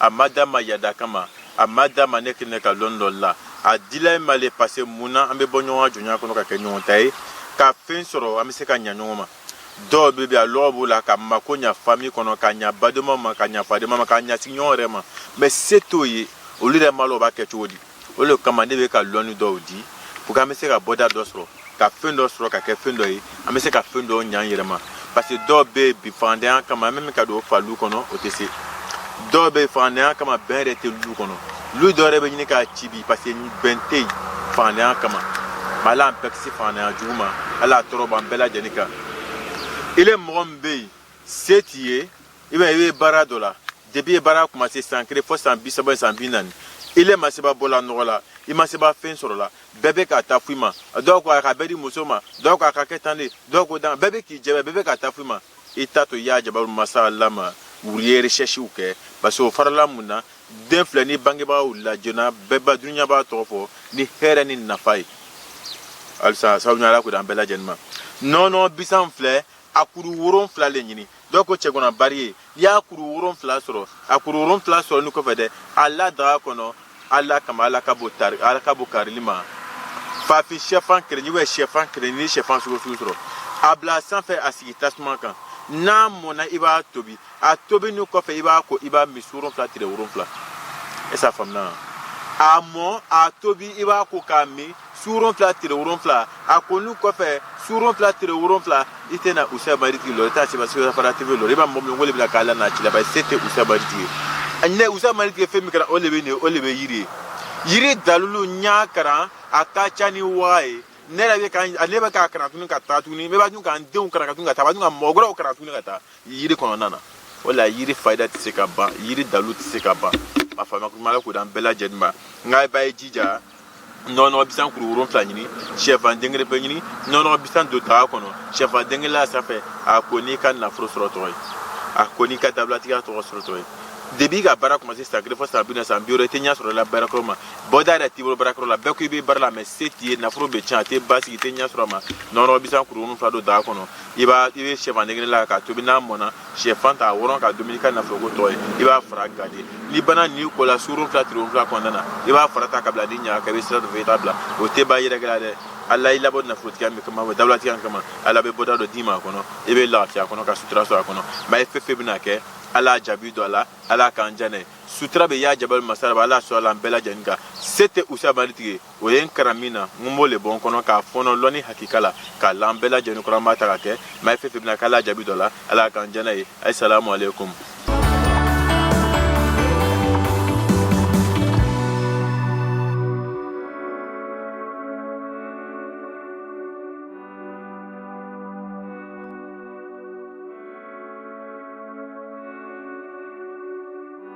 a ma da ma yada kama a ma da ma ne kɛnɛ ka lɔn dɔ la a dila ma le parce que mun na an bɛ bɔ ɲɔgɔn ka jɔnya kɔnɔ ka kɛ ɲɔgɔn ta ye ka fɛn sɔrɔ an bɛ se ka ɲa ɲɔgɔn ma dɔw bɛ bi a lɔgɔ b'o la ka mako ɲa fami kɔnɔ ka ɲa badema ma ka ɲa fadema ma ka ɲa sigiɲɔgɔn yɛrɛ ma mɛ se t'o ye olu yɛrɛ m'a lɔn b'a kɛ cogo di o le kama ne bɛ ka lɔnni dɔw di pour que an bɛ se ka bɔda dɔ sɔrɔ ka fɛn dɔ sɔrɔ ka kɛ fɛn dɔ ye an bɛ se ka fɛn dɔw ɲa an yɛrɛ ma parce que dɔw bɛ yen bi fangandanya kama an bɛ min ka don fa lu kɔnɔ o tɛ se dɔw bɛ yen fangandanya kama bɛn yɛrɛ tɛ lu kɔnɔ lu dɔ yɛrɛ bɛ ɲini ka ci bi parce que bɛn tɛ yen fangandanya kama mɛ ala an bɛɛ kisi fangandanya jugu ma ala a tɔɔrɔ b'an bɛɛ lajɛlen kan ile mɔgɔ min bɛ yen se t'i ye i b'a ye i bɛ baara dɔ la depuis i ye baara commencé san kelen fo san bi saba san bi naani ile ma seba bɔ la nɔgɔ la i ma seba fɛn sɔrɔ la bɛɛ bɛ k'a ta f'i ma dɔw ko a ka bɛɛ di muso ma dɔw ko a ka kɛ tan de dɔw ko dan bɛɛ bɛ k'i jɛbɛ bɛɛ bɛ k'a ta f'i ma i t'a to i ya jabaru masa ala ma wuli i ye recherchew kɛ parce que o farala mun na den filɛ ni bangebaa wulila joona bɛɛ ba dunuya b'a tɔgɔ fɔ ni hɛrɛ ni nafa ye halisa sabu ala k'o d'an bɛɛ lajɛlen ma nɔnɔ bisan filɛ a kuru woronfila le ɲini dɔw ko cɛgɔnna bari ye n'i y'a kuru woronfila sɔrɔ a kuru woronfila sɔrɔni kɔfɛ dɛ a la daga kɔnɔ ala kama ala ka bo tari ala ka bo karili ma fafi sɛfan kelen ou bien sɛfan kelen ni sɛfan sugu sugu sɔrɔ a bila sanfɛ a sigi tasuma kan n'a mɔna i b'a tobi a tobini kɔfɛ i b'a ko i b'a min su woronfila tile woronfila est-ce a faamuna a mɔ a tobi i b'a ko k'a min su woronfila tile woronfila a koni kɔfɛ su woronfila tile woronfila i tɛna usa maritigi lɔn i t'a seba seba fara tv lɔn i b'a mɔgɔ min wele bila k'ala n'a cilaba i se tɛ usa maritigi ye a ɲinɛ usa maritigi fɛn min kɛra o de bɛ nin o de bɛ yiri ye yiri dalilu n y'a karan a ka ca ni waa ye ne yɛrɛ bɛ ka ne bɛ k'a karan tuguni ka taa tuguni ne b'a dun k'an denw karan ka tuguni ka taa b'a dun ka mɔgɔ wɛrɛw karan tuguni ka taa yiri kɔnɔna na o la yiri fayida tɛ se ka ban yiri dalilu tɛ se ka ban a faamuya kuma ala k'o d'an bɛɛ lajɛlen ma nka b'a ye jija nɔnɔ bisan kuru wolonfila ɲini sɛfan den kelen pe ɲini nɔnɔ bisan don daga kɔnɔ sɛfan den kelen la sanfɛ a ko n'i ka nafolo sɔrɔ tɔgɔ ye a ko n'i ka dawulatigiya tɔgɔ sɔrɔ tɔgɔ ye depuis i ka baara commencé san kelen fɔ san bi naani san bi wɔɔrɔ i tɛ ɲɛ sɔrɔ la baarakɛyɔrɔ ma bɔda yɛrɛ t'i bolo baarakɛyɔrɔ la bɛɛ ko i bɛ baara la mɛ se t'i ye nafolo bɛ tiɲɛ a tɛ basigi i tɛ ɲɛ sɔrɔ a ma nɔnɔ bisan kuru wolonfila don daga kɔnɔ i b'a i bɛ sɛfan den kelen la k'a tobi n'a mɔna shɛfan ta wɔrɔ k'a dumu n'i ka nafolo ko tɔgɔ ye i b'a fara gardé n'i banna n'i kola su woronfila tile woronfila kɔnɔna na i b'a fara ta ka bila ni ɲaga ka bɛ sira dɔ fɛ i t'a bila o tɛ ba yɛrɛkɛ la dɛ ala y'i labɔ nafolotigiya min kama o dawulatigiya kama ala bɛ bɔda dɔ d'i ma a kɔnɔ i bɛ lafiya kɔnɔ ka sutura sɔrɔ a kɔnɔ mɛ ye fɛn fɛn bɛna kɛ ala jaabi don a la ala k'an diya n'a ye sutura bɛ ya jabaru masa ala sɔrɔ a la an bɛɛ lajɛlen kan se tɛ usa maritigi ye o ye n kara min na n b'o le bɔ n kɔnɔ k'a fɔnɔ lɔni hakika la k'a lan bɛɛ lajɛlen kɔrɔ n b'a ta ka kɛ ma ye fɛn fɛn bɛna k'a la jaabi dɔ la ala k'an jɛna ye asalamu aleykum